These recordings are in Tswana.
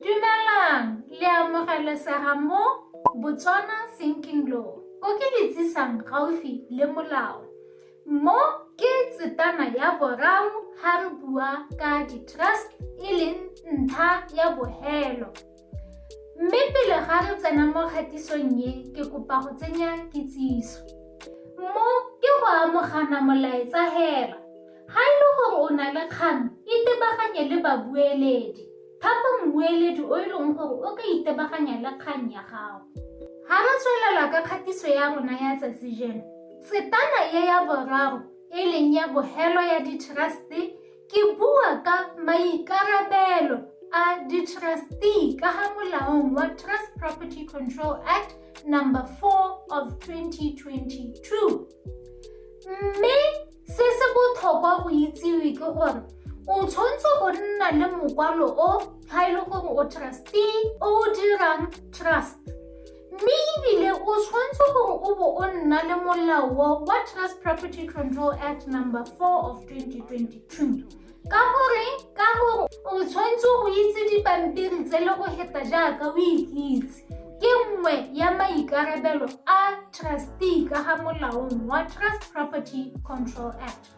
Dumelang, le amogelesega mo Botswana Sinking Law. Ko ke le tsisang gaufi le molao. Mo ke tsetana ya boraro ha re bua ka di-trust e leng ntlha ya bohelo. Mme pele ga re tsena mo kgatisong ye, ke kopa go tsenya kitsiso. Mo ke go amogana molaetsa hela. Ha e le gore o na le kgang, itebaganye le babueledi. Thapa mmueledi o e leng gore o ka itebaganya le kgang ya gago. Ga re tswelela ka kgatiso ya rona ya tsatsi jeno, setana e ya boraro e leng ya bogelo ya ditrasti ke bua ka maikarabelo a ditrasti ka ga molaong wa Trust Property Control Act number 4 of 2022. mme se se botlhokwa go itsewe ke gore o tshwanetse go nna le mokwalo o ga e le gore o trustee o o dirang trust mme ebile o tshwanetse gore o bo o nna le molao wa trust property control act number 4 of 2022 ka gore ka gore o tshwanetse go itse dipampiri tse le go heta jaaka o ikitse ke nngwe ya maikarabelo a trustee ka ga molaong wa trust property control act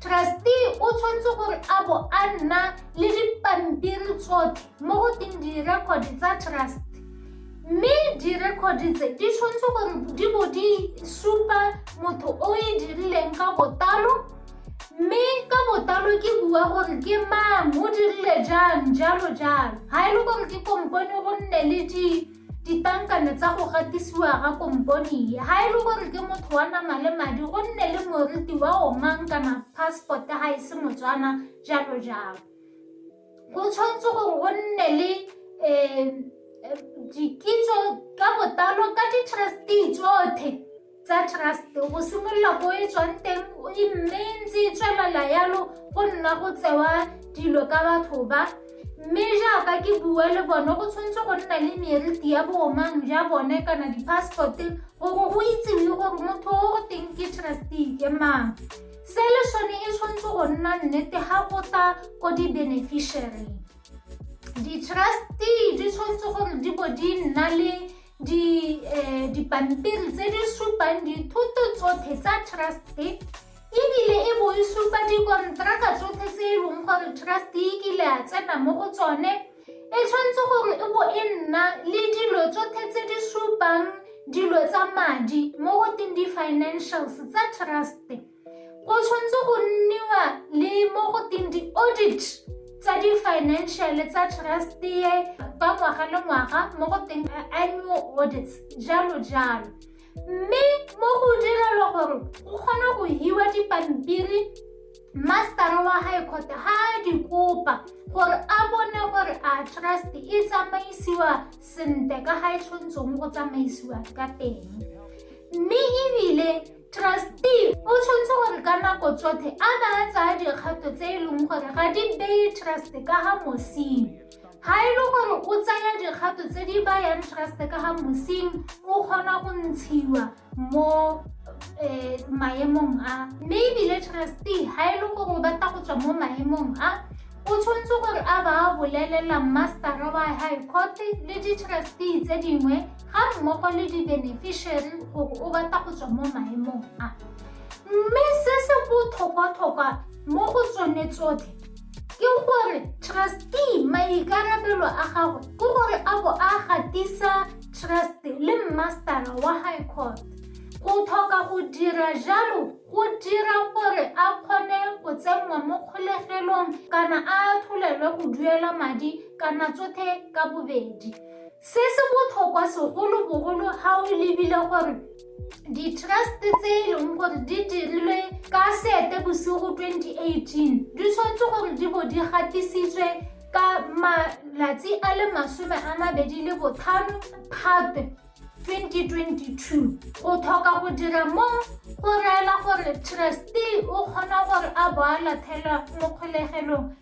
trustee o tshwanetse gore a bo a nna le dipampiri tsotlhe mo go teng di-record tsa trust mme di-record tse di tshwanetse gore di bo di supa motho o e dirileng ka botalo mme ka botlalo ke bua gore ke mang o dirile jang jalo jalo ga e le gore ke kompone go nne le ditankane tsa go gatisiwa ga kompone e ga e le gore ke motho wa nama le madi go nne le moriti wa o mang kana passport ga e se motswana jalo jalo Go tshwanetse gore go nne le um dikitso ka botalo ka di-trustee tsotlhe tsa trust go simolola ko e tswang teng e mme ntse e tswelela yalo go nna go tsewa dilo ka batho ba mme jaaka ke bua le bone go tshwanetse go nna le meriti ya boomang ja bone kana di-passport gore go itsewe gore motho o teng ke trustee ke mang Seleshone e tshwanetse go nna nnete ga go tla ko di-beneficiary. Di-trustee di tshwanetse gore di bo di nna le eh, dipampiri tse di supang dithoto tsotlhe tsa truste ebile e bo e supa dikonteraka tsotlhe tse e leng gore truste e kile a tsena mo go tsone e tshwanetse gore e bo e nna le dilo tsotlhe tse di supang dilo tsa madi mo go teng di-financials tsa trust go tshwanetse go nniwa le mo go teng di-audit tsa di-financial tsa trust ye ka ngwaga le ngwaga mo go teng annual audits jalo jalo mme mo go direlwa gore go kgona go hiwa dipampiri mastara wa gae kgote ga a di kopa gore a bone gore a trust e tsamaisiwa sentle ka ga e tshwanetseng go tsamaisiwa ka teng mme ebile trustee o tshwanetse gore ka nako tsotlhe a ba a tsaya dikgato tse e leng gore ga di beye trust ka ga mosimo ga e le gore o tsaya dikgato tse di bayang trust ka ga mosing o kgona go ntshiwa mo um maemong a mme ebile trustee ga e le gore o batla go tswa mo maemong a o tshwanetse gore a ba a bolelela mastera wa high court le di-trustee tse dingwe ga mmogo le di-beneficiary gore o batla go tswa mo maemong a mme se se botlhokwatlhokwa mo go tsone tsotlhe ke gore trustee maikarabelo a gagwe ke gore a bo a gatisa trust le mmastara wa high court go tlhoka go dira jalo go dira gore a kgone go tsenngwa mo kgolegelong kana a atholelwe go duela madi kana tsothe ka bobedi se se botlhokwa segolobogolo ga o lebile gore ditrust tse e leng gore di dirilwe ka sete bosigo 2018 di tshwanetse gore di bo di gatisitswe ka malatsi a le masome a mabedi le botlhano phatwe 2022 go tlhoka go dira mo go reela gore trustee o kgona gore a bo a lathela mo kgolegelong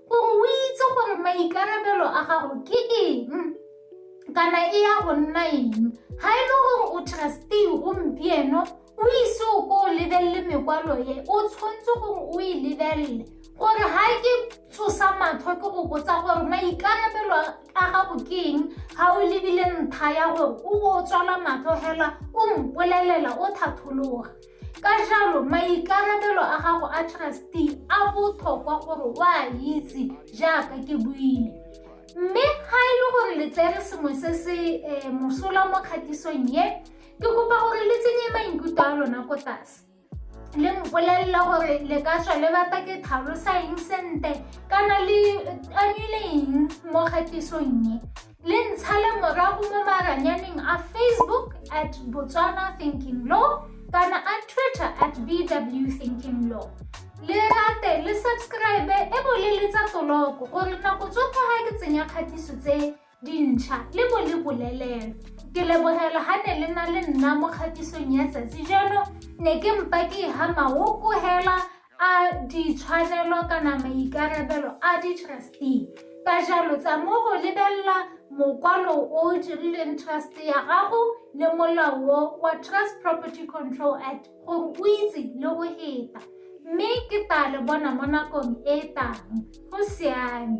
Gore o itse gore maikarabelo a gago ke eng kana e ya go nna eng ga e le gore o trustee gompieno o ise o ko o lebelele mekwalo e o tshwanetse gore o e lebelele gore ga ke tshosa matlho ke go botsa gore maikarabelo a gago ke eng ga o lebile ntlha ya gore o bo o tswala matlho fela o mpolelela o thathologa ka jalo maikarabelo a gago a trustee a botlhokwa gore o a itse jaaka ke buile mme ga e le gore le tsere sengwe se se eh, mosola mo kgatisong ye ke kopa gore le tsenye maikutlo a lona ko tlase le mpolelela gore le ka tswa le bata ke tlhalosa eng sente kana le anyile eng mo kgatisong ye le ntshale morago mo maranyaneng a facebook at botswana thinking law kana a twitter at bw thinking law le rate le subscribe e bo le letsa toloko gore nako tsotlhe ga ke tsenya kgatiso tse dintšha le bo le bolelelo ke lebogela ga ne le na le nna mo kgatisong ya tsatsi jalo ne ke mpa ke e ga maoko hela A ditshwanelo kana maikarabelo a di-trustee ka jalo tsa mo go lebelela mokwalo o o dirileng trust ya gago le molao wa Trust Property Control Act gore o itse le go heta mme ke tla le bona mo nakong e e tang go siame